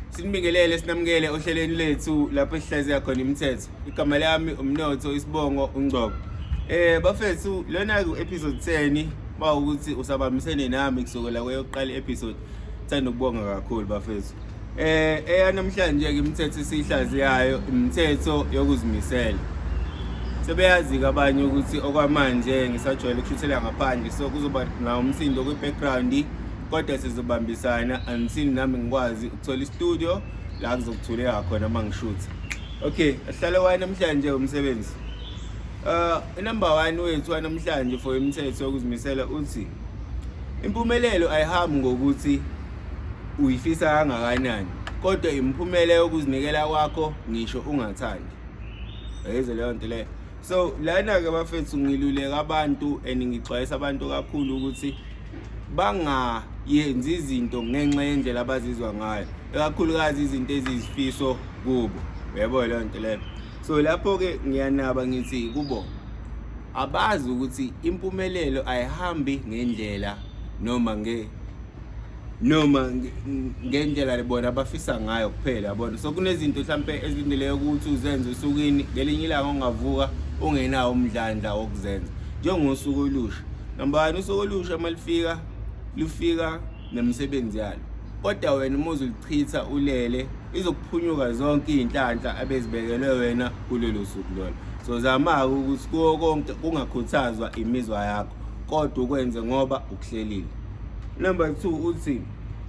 sinibingelele sinamukele ohlelweni lethu lapho sihlaziya khona imithetho igama lami umnotho isibongo ungcobo eh bafethu lona ku episode 10 bawukuthi usabambisene nami kusukela kweyokuqala episode thanda ukubonga kakhulu bafethu Eh eyanamhlanje ke imithetho esihlaziyayo imithetho yokuzimisela. Sebeyazi ke abanye ukuthi okwamanje ngisajwayele ukushuthela ngaphandle so kuzoba na umsindo kwi background kodwa sizobambisana until nami ngikwazi ukuthola istudio la kuzokuthuleka khona uma ngishutha. Okay, ahlale waye namhlanje umsebenzi. Uh number 1 wethu namhlanje for imithetho yokuzimisela uthi Impumelelo ayihambi ngokuthi uyifisa kangakanani kodwa imiphumela yokuzinikela kwakho ngisho ungathandi ayize leyo nto leyo so lana-ke bafethu ngiluleka abantu and ngixwayisa abantu kakhulu ukuthi bangayenzi izinto ngenxa yendlela abazizwa ngayo ekakhulukazi izinto ezizifiso kubo uyabo leyo nto leyo so lapho ke ngiyanaba ngithi kubo abazi ukuthi impumelelo ayihambi ngendlela noma nge noma ngendlela lebona abafisa ngayo kuphela yabona so kunezinto mhlampe ezilindeleke ukuthi uzenze usukwini ngelinye ilanga ungavuka ungenawo umdlandla wokuzenza njengosuku olusha nambani usuku olusha uma lifika lufika nemisebenzi yalo kodwa wena uma uzulichitha ulele izokuphunyuka zonke iy'nhlanhla abezibekelwe wena kulelo suku lona so zama-ke ukuthi kuwo konke kungakhuthazwa imizwa yakho kodwa ukwenze ngoba ukuhlelile number two uthi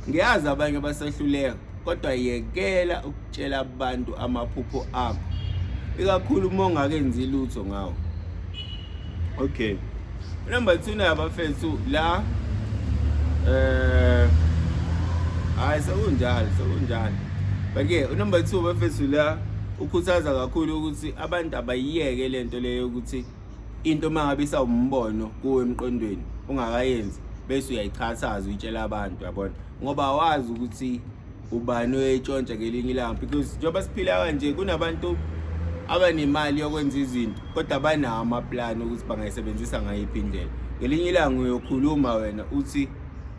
ngiyazi abanye basahluleka kodwa yekela ukutshela abantu amaphupho akho ikakhulu uma ungakenzi lutho ngawo okay number 2 nayo abafethu la eh hayi sekunjalo sekunjalo but ke number 2 abafethu la ukhuthaza kakhulu ukuthi abantu abayiyeke lento leyo ukuthi into mangabe isawumbono kuwe emqondweni ungakayenzi bese uyayichashaza uyitshela abantu yabona ngoba wazi ukuthi ubani oyayitshontsha ngelinye ilanga because njengoba siphila kanje kunabantu abanemali yokwenza izinto kodwa banawo amaplani ukuthi bangayisebenzisa ngayiphi indlela ngelinye ilanga uyokhuluma wena uthi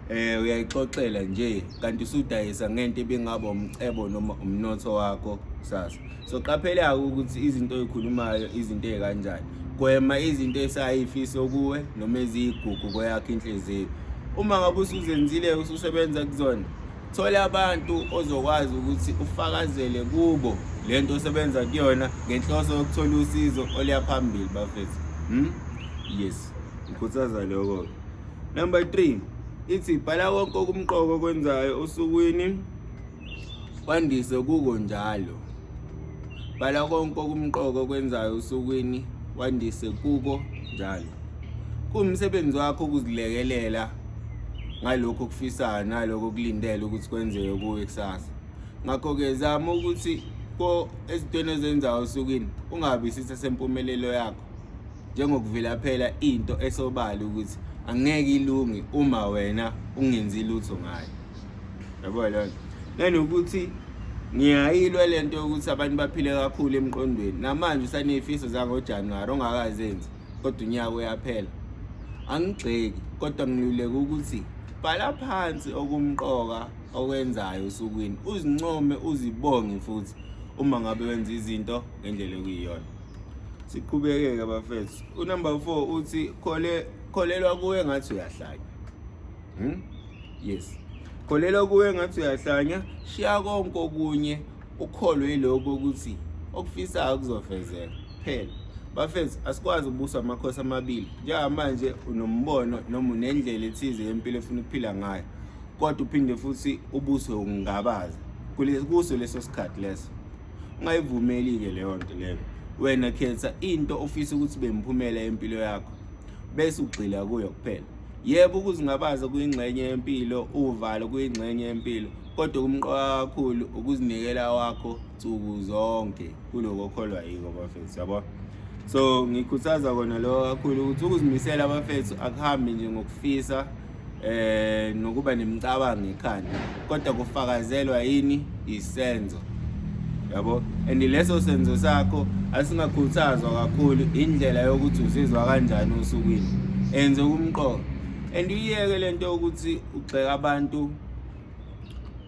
eh uyayixoxela nje kanti usudayisa ngento ebingaba umcebo noma umnotho wakho sasa so qaphela ukuthi izinto oyikhulumayo izinto ezikanjani gwema izinto esayifiso kuwe noma eziyigugu kweyakho inhliziyo uma ngabe usuzenzile ususebenza kuzona Thola abantu ozokwazi ukuthi ufakazele kubo le nto osebenza kuyona ngenhloso yokuthola usizo oluya phambili bafethu hmm? yes ngikhuthaza lokho number three ithi bhala konke okumqoka okwenzayo osukwini kwandise kuko njalo bhala konke okumqoka okwenzayo osukwini kwandise kuko njalo kuwumsebenzi wakho ukuzilekelela ngalokho okufisayo nalokho okulindele ukuthi kwenzeke kuwe kusasa ngakho-ke zama ukuthi ko ezintweni ezenzayo osukwini ungabi isitha sempumelelo yakho njengokuvilaphela into esobala ukuthi angeke ilungi uma wena ungenzi lutho ngayo yabo lona nanokuthi ngiyayilwa le nto yokuthi abantu baphile kakhulu emqondweni namanje usaneyifiso zangojanuwari ongakazenzi kodwa unyaka uyaphela angigxeki kodwa ngiluleka ukuthi bhala phansi okumqoka okwenzayo osukwini uzincome uzibonge futhi uma ngabe wenza izinto ngendlela okuyiyona siqhubekeke bafethu unumber 4 uthi khole kholelwa kuwe ngathi uyahlanya hmm? yes kholelwa kuwe ngathi uyahlanya shiya konke okunye ukholwe yilokho ukuthi okufisayo kuzofezeka phela bafethu asikwazi ubusa amakhosi amabili njengamanje unombono noma unendlela ethize yempilo efuna ukuphila ngayo kodwa uphinde futhi ubuswe ukungabaza kuso leso sikhathi leso ungayivumeli-ke leyo nto leyo wena khetha into ofisa ukuthi bemphumela empilo yakho bese ugxila kuyo kuphela yebo ukuzingabaza kuyingxenye yempilo uvalo kuyingxenye yempilo kodwa okumqoka kakhulu ukuzinikela wakho nsuku zonke kuloko okholwa yiko bafethu yabo so ngikhuthaza kona lokho kakhulu ukuthi ukuzimisela abafethu akuhambi nje ngokufisa eh nokuba nemicabango ekhanda kodwa kufakazelwa yini isenzo yabo and leso senzo sakho asingakhuthazwa kakhulu indlela yokuthi uzizwa kanjani osukwini enze umqoka and uyeke lento ukuthi ugxeka abantu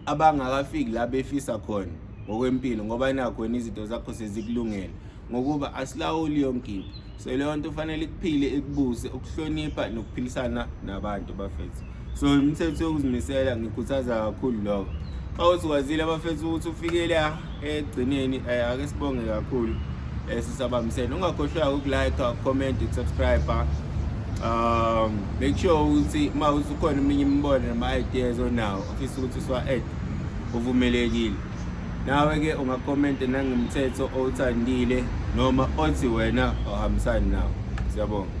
abangakafiki la befisa khona ngokwempilo ngoba nakho wena izinto zakho sezikulungele ngokuba asilawuli yonke into so leyo nto ufanele ikuphile ikubuse ukuhlonipha nokuphilisana nabantu bafethu so imithetho yokuzimisela ngikhuthaza kakhulu lokho xa uthi kwazile abafethu ukuthi ufikele ekugcineni eh, ake sibonge kakhulu eh, sisabambisene ungakhohlwa ukulike comment subscribe ah. um make sure ukuthi uma usukhona eminye imibono nama-ideas onawo ofisa ukuthi siwa-add uvumelekile nawe-ke ungakhomenta nangemthetho owuthandile noma othi wena ohambisani nawo siyabonga